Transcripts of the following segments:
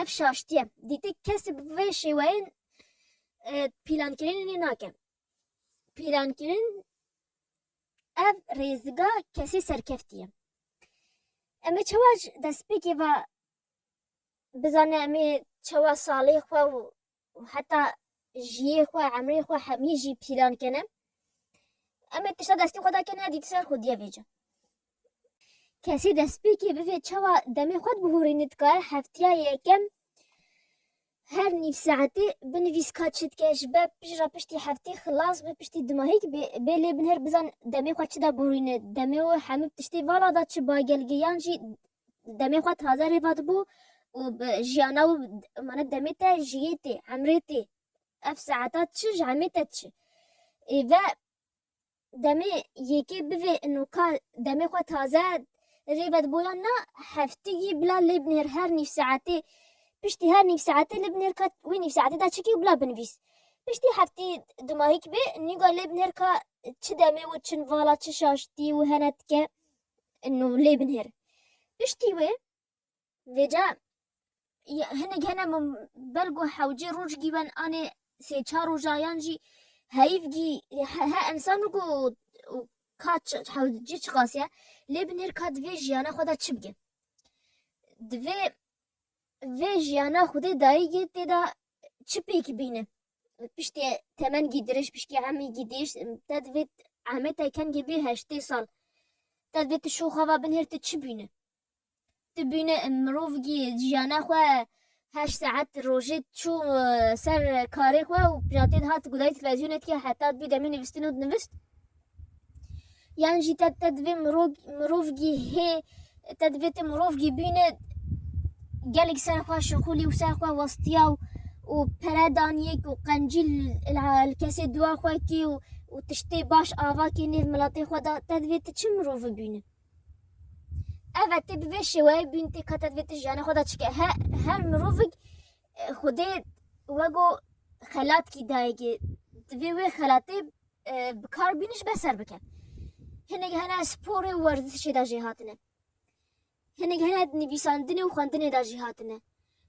Ev şaştî ye. Dîtik kesî bi vê şêweyê pîlankirinê nake. Pîlankirin ev rêziga kesî serkeftî ye. Em ê çawa ji destpêkê ve bizane em ê çawa salê xwe û û heta jiyê xwe emrê xwe hemî jî pîlan kene em ê tişta destê xwe da kene dît ser xwedîya vê ca. Kesî destpêkê bi vê çawa demê xwe dibihûrîne dikare heftiya yekem her nîv saetê binivîs ka çi dike ji ber pijra piştî heftê xilas bi piştî dimahîk bê lê binir bizan demê xwe çi de bihûrîne demê wê hemû tiştê vala da çi bagelge yan jî demê xwe taze rêva dibû û bi jiyana wî mane demê te jiyê tê, emrê tê. Ev saeta çi ji emê te çi? Ê ve demê yekê bivê noka demê xwe taze rêve dibû yan na heftigî bila lê binêr her nîv saetê piştî her nîv saetê lê binêr ka wê nîv saetê de çi kî û bila binivîs. Piştî heftî du mahî kibê nîga lê binêr ka çi demê û çin vala çi şaştî û hene dike û lê bin hêr. Piştî wê vêca hinek hene min bel ku hewcê roj gîben anê sê çar roja yan jî heyîf gî he ensan û ku ka hewcê çiqas ye lê bin hêr ka divê jiyana xwe de çi bike. Divê vê jiyana xwedê dayîkê têda çi pêk bîne. Piştê temengî dirêj piştî emîgî dêj te divê Ahmet te kengê bê heştê sal. Te divê tu şû xava bin hêr tu çi bîne. Tu bîne mirovgî jiyana xwe heşt saet rojê çû ser karê xwe û pijatê dihat gudayî televîzyonê dikê heta bî demê nivîstin û dinivîst. Yan jî te te divê mirovgî hê te divê te mirovgî bîne gelek ser xwe şixulî û ser xwe westiya û û pere daniye ku qencî li kesê duwa xwe kê û û tiştê baş ava kê nêv milatê xwe da te divê te çi mirovi bîne Evet te bi vê şêweyê bîn tê ka te divê te jiyana xwe da çike he her mirovik xwedê wego xelatkî dayekê divê wê xelatê bi kar bîniş be ser bike. Hinek hene sporê û werzişê de jê hatine. Hinek hene nivîsandinê û xwendinê de jî hatine.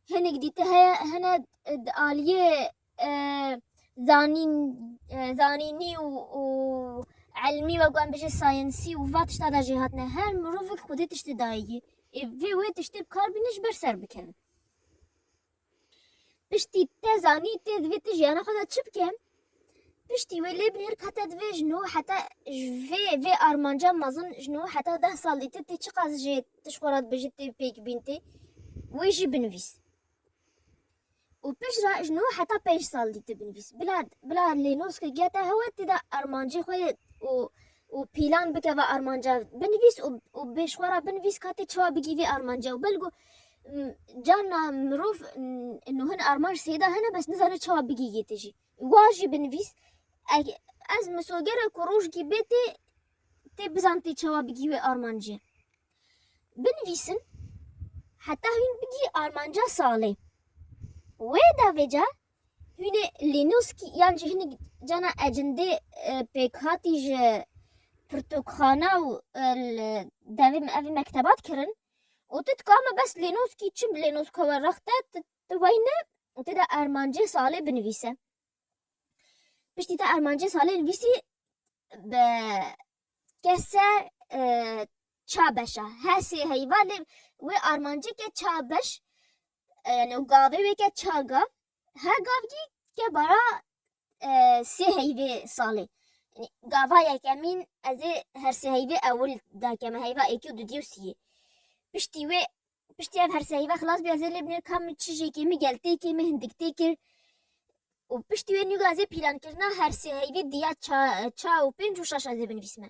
Hinek dîte heye hene di aliyê zanîn zanînî û û elmî ve ku em bijê sayensî û va tişta de jê hatine. Her mirovek xwedê tiştê dayî. Ê vê wê tiştê bi kar bîniş ber ser bikeve. Piştî te zanî tê divê tu jiyana xwe de çi bike, piştî wê lê binêr ka te divê ji no heta ji vê vê armanca mezin ji no heta deh salî tu tê çiqas jê tu ji xwe re dibêjî tê pêk bîn tê wê jî binivîs. Û pişt re ji no heta pênc salî tu binivîs. Bila bila lênoskeke te hewa tê de armancê xwe yê û û pîlan bike va armanca binivîs û bê xwe re binivîs ka tê çawa bigî vê armancê û belgo carna mirov no hin armanc sêda hene bes nizane çawa bigî yê tijî wa jî binivîs ez misogere ku roj gî bê tê tê bizan tê çawa bigî wê armancê binivîsin heta hîn bigî armanca salê wê de vêca Hûnê Linûsk yan jî hinek cana ecindê pêkhatî ji pirtûkxana û li devê me evê mektebat kirin û tu dika me bes Linûsk çi bi Linûsk xwe rex de tu weyne û tu de armancê salê binivîse. Piştî te armancê salê nivîsî bi kese çabeşa hesê heyva lê wê armancê ke çabeş yani o gavê wê ke çar gav her gavgî ke bara sê heyvê salê gava yekemîn ez ê her sê heyvê ewil dakeme heyva êkî û dudî û sîyê piştî wê piştî ev her sê heyva xilas bî ez ê lê binêr ka min çi jêkê min geltêkê min hindik tê kir û piştî wê nîga ez ê pîrankirina her sê heyvê diya ça ça û pênc û şeş ez ê binivîsme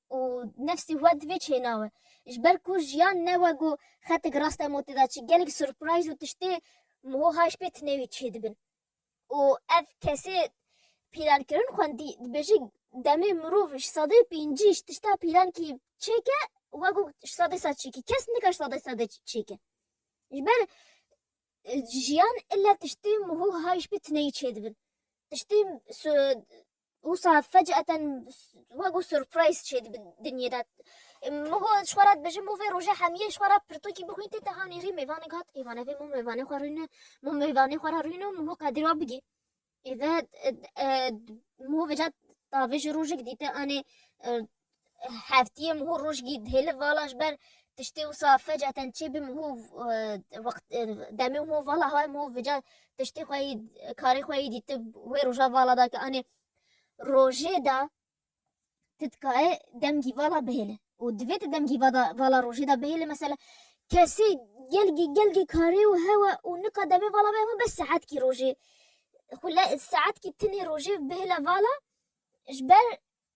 û nefsî xwe di vê çêna we. Ji ber ku jiyan ne we ku xetik rast em û tê de çi gelek surprise û tiştê ho ha ji pê tine wî çê dibin. Û ev kesê pîrankirin xwendî dibêje demê mirov ji sedê pêncî ji tişta pîrankî çêke we ku ji sedê sed çêke kes nikare ji sedê sed çêke. Ji ber jiyan ille tiştê ho ha ji pê tine yî çê dibin. Tiştê Wisa fec'eten wego surprise çê dibin dinyê de. Mogo ji xwe re dibêjin bo vê rojê hemiyê ji xwe re pirtûkî bixwîn tê te hewnî rî mêvanek hat êvan evê min mêvanê xwe rûne min mêvanê xwe re rûne mogo qedîr we bigê. Êve mogo veca tavê ji rojek dîte anê Heftiyê min hû rojgî dihêlin vala ji ber tiştê wisa feca ten çêbîm hû demê hû vala hay hû vica tiştê xwe karê xwe yî dîtib wê roja vala da ki anê rojê da tu dikaye dem gî vala bihêle û divê tu dem gî vala rojê da bihêle mesela kesê gelgî gelgî karê û hewa û nika demê vala be hû be saet kî rojê xule saet kî tinê rojê bihêle vala ji ber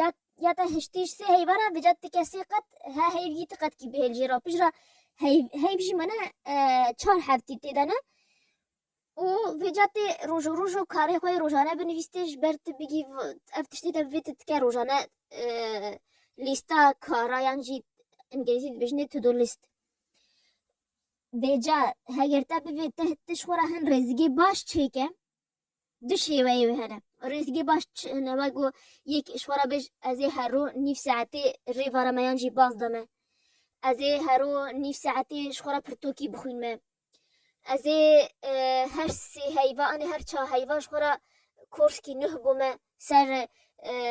ya ya te hiştî ji sê heyva re vêca ti kesê qet he heyv yî ti qet kî bihêl jê ra pij ra heyv heyv jî mane e, çar heftî tê de ne û vêca tê rojo rojo karê xwe yê rojane binivîstê ji ber ti bigî v- ev tiştê te vê ti dike rojane e, lîsta kara yan jî îngilîzî dibêjinê to do list vêca heger te bivê te ti ji xwe re hin rêzigê baş çêke Du şêweyê wê hene. Rêzgê baş çi hene wek ku yek ji xwe re bêj ez ê hero nîv saetê rêvara me yan jî baz da me. Ez ê hero nîv saetê ji xwe re pirtokî bixwînme. Ez ê her sê heyva anê her çar heyva ji xwe re korskî nuh bome ser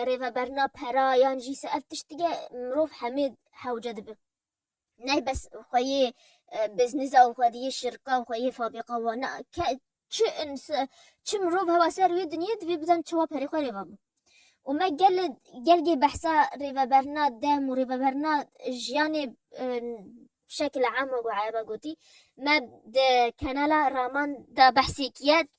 rêveberna pera yan jî se ev tişt dige mirov hemê hewce dibe. Neh bes xwe yê bizniza û xwe yê şirka û xwe yê fabîqa wan na ke çi însa çi mirov hewa ser wî dinyê divê bizan çawa perê xwe rêva bû. Û me gel gelgê behsa rêveberna dem û rêveberna jiyanê şekil ame û ame gotî me di kanala raman da behsêkî ye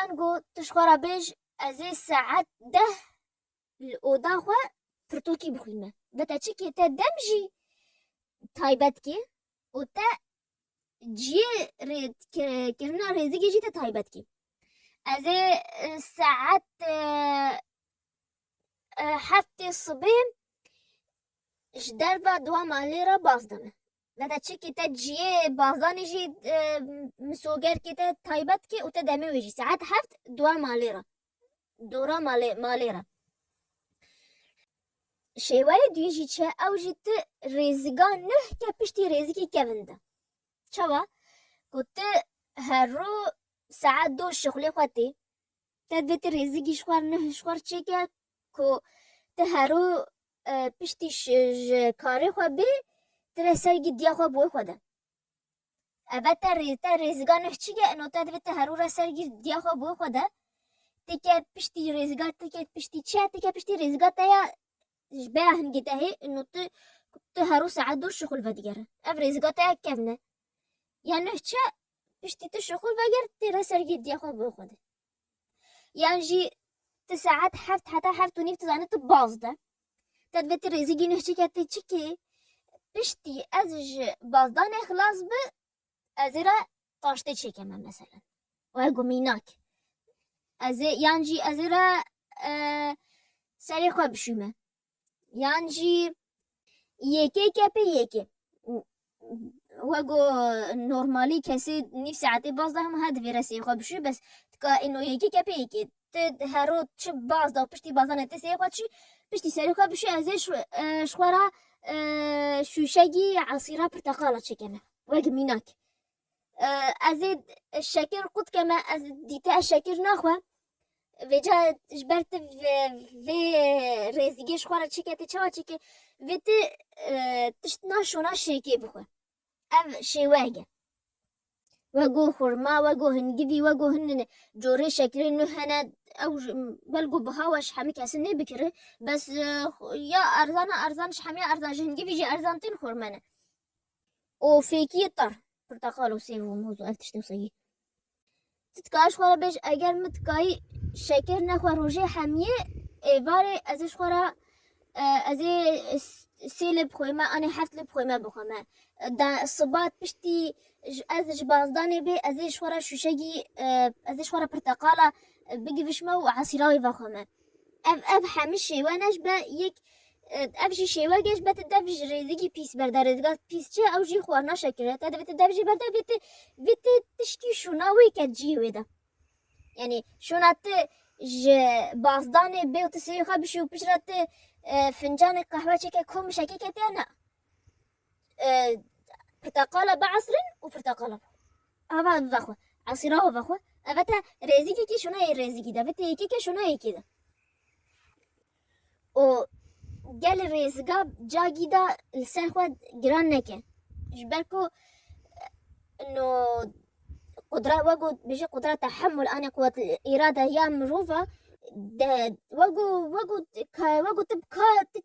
Ango tu ji xwe re bêj ez ê saet deh li oda xwe pirtûkî bixwînim. Vete çikê te dem jî taybet kê û te ciyê rê kirina rêzigê jî te taybet kê. Ez ê saet heftê sibê ji derve duwa malê re baz dime. Leda çiki te ciye bazani jî misoger ki te taybet ki û te demê wê jî saet heft dua malê re. Dora malê malê re. Şêweyê duyê jî çi ew jî ti rêziga neh ke piştî rêzikî kevin de. Çawa? Ku ti her rû saet do şixulê xwe tê Te vê ti rêzigî ji xwe re neh ji xwe re çêke ku ti hero piştî ji karê xwe bê ti re sergî diya xwe bi wê xwe de. Ev e te rêz te rêziga neh çi ye ino te divê ti hero re sergî diya xwe bi wê xwe de ti ke piştî rêziga ti ke piştî çi ye ti ke piştî rêziga te ya ji bera hingê te hê ino ti ti hero saet dûr şixul vedigere. Ev rêziga te ya kevn e ya neh çi ye piştî tu şixul vegir tê re sergî diya xwe bo xwe de. Yan jî tu saet heft heta heft û nîv tu zanî tu baz de. Te divê tu rêzî gînî hiçike tê çikê piştî ez ji bazdanê xilas bi ez ê re taştê çêkeme meselen. We gumî nake. Ez ê yan jî ez ê re serê xwe bişûme. yan jî yekê kepê yekê wego normalî kesê nîv saetê bazda hema her divê resê xwe bişû bes tika êno yekê kepê yekê ti hero çi bazda û piştî bazdan te sê xwe çi piştî serê xwe bişû ez ê ji xwe re şûşegî esîra pirteqala çêkeme wek mînak Ez ê şekir qut keme ez dîte ez şekir naxwe. Vêca ji ber tu vê rêzîgê ji xwe re çêke tê çawa çêke vê tu tişt naşona şêkê bixwe. Ev şêweyek e. Wego xurma, wego hingivî, wego hin corê şekirê nû hene ew belgo biha we ji hemî kesin nêbikiri bes ya erzana erzan ji hemî erzan ji hingivî jî erzan tên xurme ne. û fêkiyê tar, pirteqal û sêv û mûz û ev tişt wisa yî. Tu dikaî ji xwe re bêj eger min tu kaî şeker nexwe rojê hemiyê êvarê ez ê ji xwe re ez ê sê lêb bixwî me anê heft lêb bixwî me bixwe me. Da siba piştî ez ji bazdanê bê ez ê ji xwe re şûşegî ez ê ji xwe re pirteqala bigivişme û esîra wê vexwe me. Ev ev hemî şêwe ne ji be yek ev jî şêwe ge ji be tu dev ji rêdigî pîs berde rêdiga pîs çi ew jî xwarina şekire te divê tu dev jî berde vê tu vê tu tiştî şûna wê ke cihê wê de yanî şûna tu ji bazdanê bê û tu sêyê xwe bişî û piştre tu fincanê qehwe çeke kom şekê ketiye na Pirteqala biesirin û pirteqala bi. Ava bibe xwe. Esîra bibe xwe. Eve te rêzîkekê şona yê rêzîkî de. Eve te yekeke şona yekê de. û gelê rêziga cagî de li ser xwe giran neke. Ji ber ku no qudra we got bêje qudra tehemul anê quwet îrada ya mirova de we got we got we got tu bi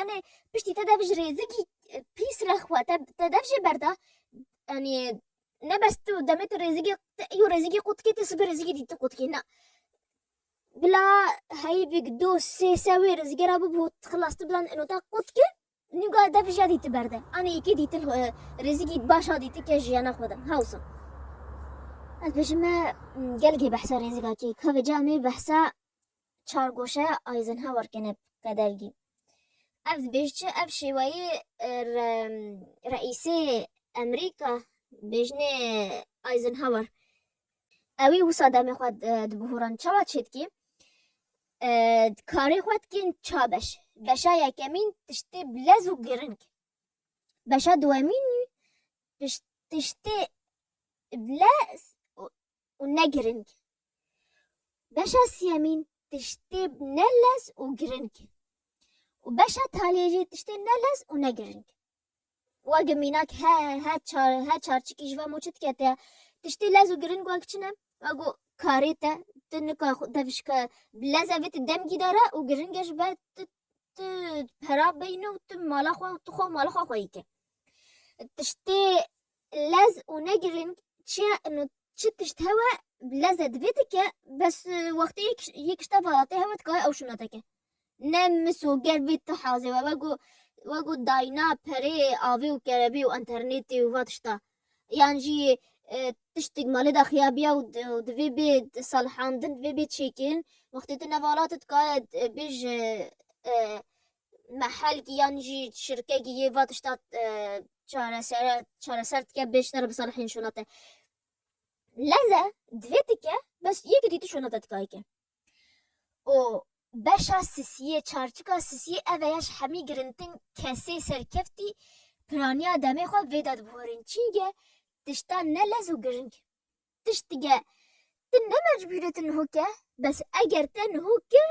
Anê piştî te dev ji rêzikî pîs re xwe te dev jê berda anê ne bes tu demê tu rêzikî yû rêzikî qût dikê tu sibê rêzikî dî tu qût dikê na bila heyvik du sê sewê rêzgera bû xilas tu bilan nota qût dikê nîga dev jiya dî tu berde anê yekê dî tu rêzikî başa dî tu ke jiyana xwe de hewsa ez bêjime gelgê behsa rêzika kê kavê camê behsa çargoşeya Eisenhower kene pedergî. Ev dibêj çi ev şêweyê reîsê Emerîka bêjinê Eisenhower. Ewî wisa demê xwe dibihûran çawa çêdikî karê xwe dikên ça beş. Beşa yekemîn tiştê bilez û giring. Beşa duwemîn tiştê bilez û ne giring. Beşa siyemîn tiştê ne lez û giring e. Û beşa taliyê jî tiştê ne lez û ne giring. Weke mînak he he çar he çarçikî ji va moçê dikete ye. Tiştê lez û giring wek çi ne? Wek ku karê te tu nika xwe te vişka bi leze vê tu demgî dare û giringe ji ber tu tu pera beyne û tu mala xwe tu xwe û mala xwe xweyî ke. Tiştê lez û ne girîng çi ye û çi tişt hewe bi leze divê dike bes wextê yê kişta velatê hewe dikaye ew şuna dike. Ne miso ger vê ti hazê we wego wego dayna perê avê û kerebê û enternêtê û va tişta yan jî tiştik malê de xiyabiya û divê bê salihandin divê bê çêkirin wextê tu ne velatê dikaye bê ji mehel giyan jî şirkegî yê va tişta çaresere çareser dike bêş nere bi salihên şona te. Leze divê dike bes yekî dî tu şona te dikayê ke. û beşa sisiyê çarçika sisiyê ev ya ji hemî girintin kesê serkeftî piraniya demê xwe vê de dibûrin çînge tişta ne lez û giring tişt dige tu ne mecbûrê tu niho ke bes eger te niho kir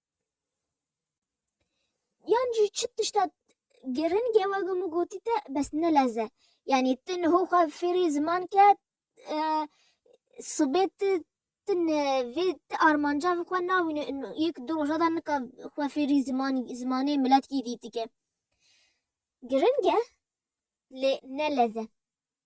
Yan jî çi tişta girin gewa gimû gotî te bes ne leze. Yani tu niho xwe fêrî ziman ke e, sibê tu tu vê tu armanca xwe navîne yek du roja da nika xwe fêrî ziman zimanê miletkî dîtike. Giringe lê ne leze.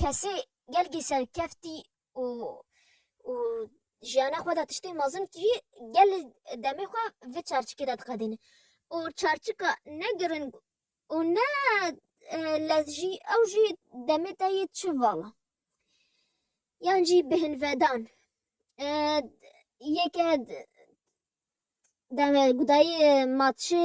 kesê gelkî serkeftî û û jiyana xwe de tiştê mezin kiriye gel demê xwe vê çarçikê de diqedîne û çarçika ne girin û ne lez jî ew jî demê te yê çi vala yan jî bihinvedan yê ke demê gudayê matçê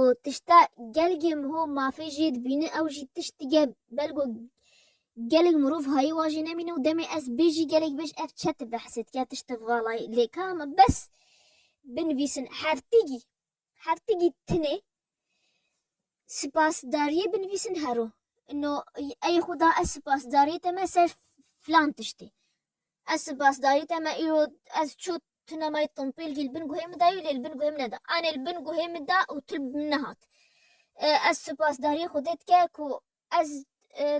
û tişta gelgê ho mafê jê dibîne ew jî tişt dige belgo gelek mirov hayê wa jê nemîne û demê ez bê jî gelek bêj ev çi dibe hesedike tişt valayê lê ka em bes binivîsin heftigî heftigî tinê sipasdariyê binivîsin hero no eyê xwe da ez sipasdariyê te me ser filan tiştê ez sipasdariyê te me îro ez çut Tu namayê Tompêlgî li bin guhê min dayî û lê li bin guhê min neda. Anê li bin guhê min da û tu li min nehat. Ez supasdariyê Xwedê dike ku ez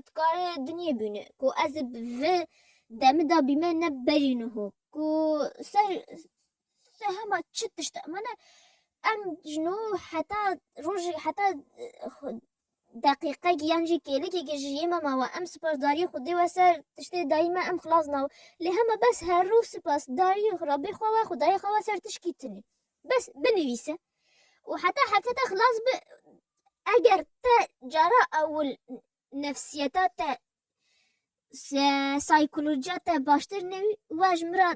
dikarê dinyê bînê ku ez ê bi vê demê da bîme ne berî niho ku ser ser hema çi tişt mane em ji no heta rojê heta Deqîqek yan jî kêlikeke ji yê me ma we. Em sipasdariyê Xwedê we ser tiştê dayî me em xilas na we. Lê hema bes herû sipasdariyê Rabbê xwe we, Xwedayê xwe we ser tişkî tune. Bes binivîse û heta hete te xilas bi. Eger te cara ewil nefsiyeta te saykolojiya te baştir newî we ji min re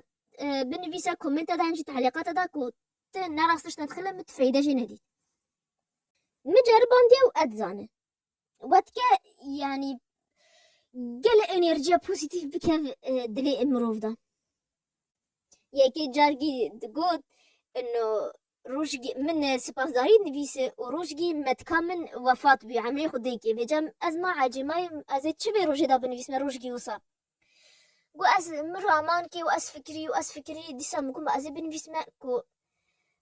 binivîse komenta de yan jî tehlîqata de ku tu ne rastişt ne dixile min tu feyde jê nedît. Min ceribandiye û ez zane. Wetike yanî gelê enerjiya pozîtîf bikev e, dilê e mirov da. Yekê cargî digot no rojgî min e, sipasdarî nivîse û rojgî metka min wefat bûye emrê xwe dêkê vêcem ez ma ecê ma ez ê çi vê rojê da binivîsme rojgî wisa. Gu ez min raman kê û ez fikirî û ez fikirî dîsa min got ez ê binivîsme ku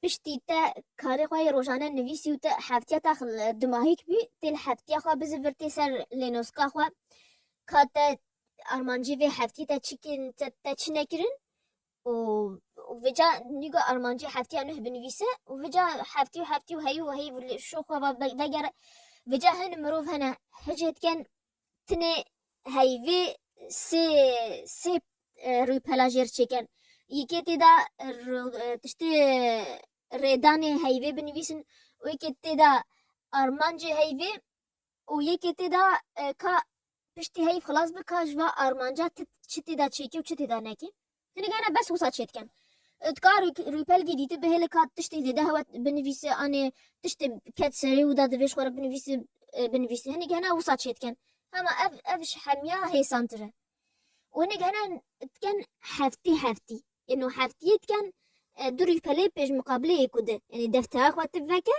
Piştî te karê xwe yê rojane nivîsî û te heftiya te dimahîk bî, tê li heftiya xwe bizivirtî ser lênoska xwe ka te armancê vê heftiyê te çi kirin te çi nekirin û vêca nîgo armancê heftiya nuh binivîse û vêca heftî û heftî û heyî û heyî şo xwe vegere vêca hin mirov hene hicê dikin tenê heyvê sê sê rûypela jêr çêken. Yekê tê de tiştê rêdanê heyvê binivîsin û yekê tê de armancê heyvê û yekê tê de ka piştî heyv xilas bi ka ji va armanca çi tê de çêkê û çi tê de nekê. Tenê gana bes wisa çêdikin. Tika rûypelgê dîti bihêle ka tiştê zêde hewa binivîsi anê tiştê ket serê û da divê ji xwe re binivîsi binivîsi. Hinê gana wisa çêdikin. Hema ev ev ji hemiya hêsantir e. Û hinê gana dikin heftî heftî. Êno heftîyê dikin du rûypelê pêşmiqabilê yê ku di. Yanî defteya xwe tu veke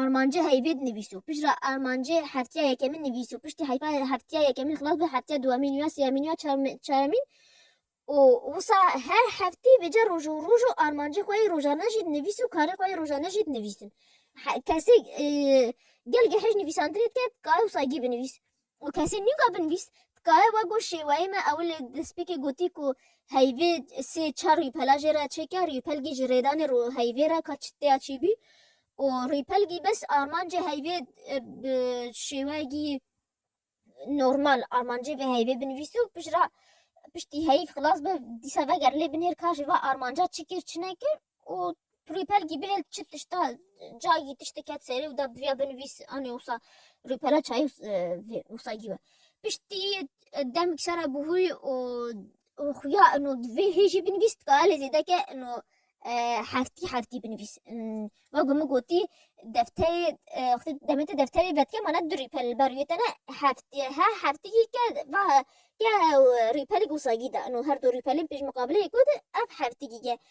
Armancê Heyvê dinivîs û pişt re Armancê Heftiya Yekemîn nivîs û piştî heyfa Heftiya Yekemîn xilas be Heftiya Duwemîn ya Sêyemîn ya Çaremîn û wisa her heftî vêca roj û roj û armancê xwe yê rojane jî dinivîs û karê xwe yê rojane jî dinivîsin. Kesê gel gehij nivîsandinê dike dikaye wisa gî binivîs. Û kesên nû ka binivîst, dikaye wek ku şêweyê me ewilê destpêkê gotî ku heyvê sê çar rûypela jê re çêke, rûypelgî ji rêdanê rû heyvê re ka çiteya çi bî û rûypelgî bes armancê heyvê bi şêweyegî normal armancê vê heyvê binivîst û pişt ra piştî heyv xilas be dîsa veger lê binêr ka ji va armanca çi kir çi nekir. û rûpelgî bihêl çi tişta cayî tiştê ket serê û da biviya binivîs anê wisa rûpela çayî wisa gî be. Piştî demk sera bûhûy û xuya ino divê hêjî binivîs dika elê zêdeke ino heftî heftî binivîs. Wa ku min gotî defterê demê te defterê vedike mana du rûpel li ber rûyê te ne heftî he heftîkî ke va ke rûpelek wisa gî de ino her du rûpelên pêş muqabileyê ku de ev heftîkî ye.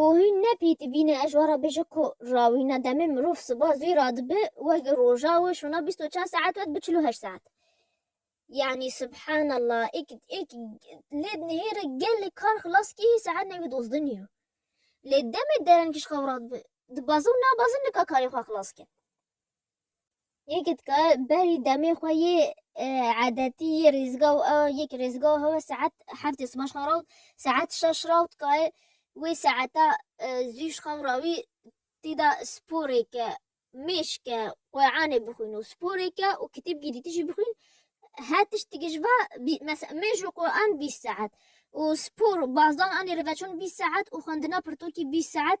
û hîn ne pî dibîne ez wara bêje ku rawîna demê mirov siba zûî radibi weg roja we şûna bîst û çar saet wed bi çil û heşt saet yanî subhanallah ik ik lê nihêre gelê kar xilas kî saet newî dozdi nîyo lê demê derenkî ji xew radibi dibazin û nabazin nika karê xwe xilas ke Yekî dikare berî demê xwe yê e, edetî yê rêzga û ew yek rêzga hewe saet heftê sibaş xwe rawt saet şeş rawt dikare wê saeta e, zû ji xew rawî têda sporêke mêşke qweanê bixwîn û sporêke û kitêb gîdîtî jî bixwîn her tiştekî ji va bî- mes- mêj û qwean bîst saet û spor û bazdan anê riveçûn bîst saet û xwendina pirtûkî bîst saet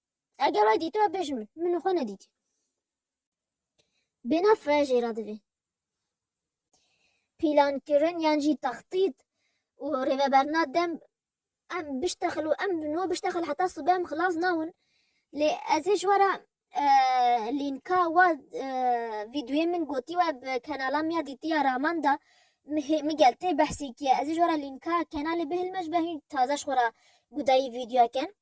Eger ay dîto bêj min, min xwe nedîtî. Bêna firaya jê re divê. Pîlankirin yan jî textît û rêveberna dem em biştexil û em no biştexil heta sibe em xilas nawin. Lê ez ê ji we re lînka wa vîdyoyê min gotî we bi kenala min ya dîtiya raman de min gel tê behsê kî ye. Ez ê ji we re lînka kenalê bihilme ji ber hîn taze ji xwe re gudayî vîdyoyeke.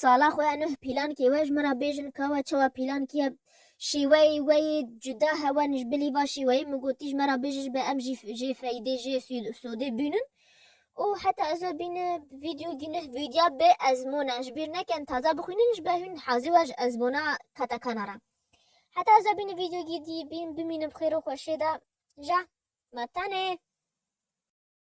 Sala xwe ya nuh pîlankê we ji min re bêjin ka we çawa pîlankî ye şîweyê we yê cuda he we nijbilî va şîweyê min gotî ji me re bêjin ji be em jî jê feydê jê sodê bînin û heta ez we bîne vîdyo gî nuh vîdya bê ezmûne ji bîr neken taze bixwînin ji be hûn hazê we ji ezmûna katekana re heta ez we bîne vîdyo gî dî bîn bimîne bi xêr û xweşê de ja me tenê.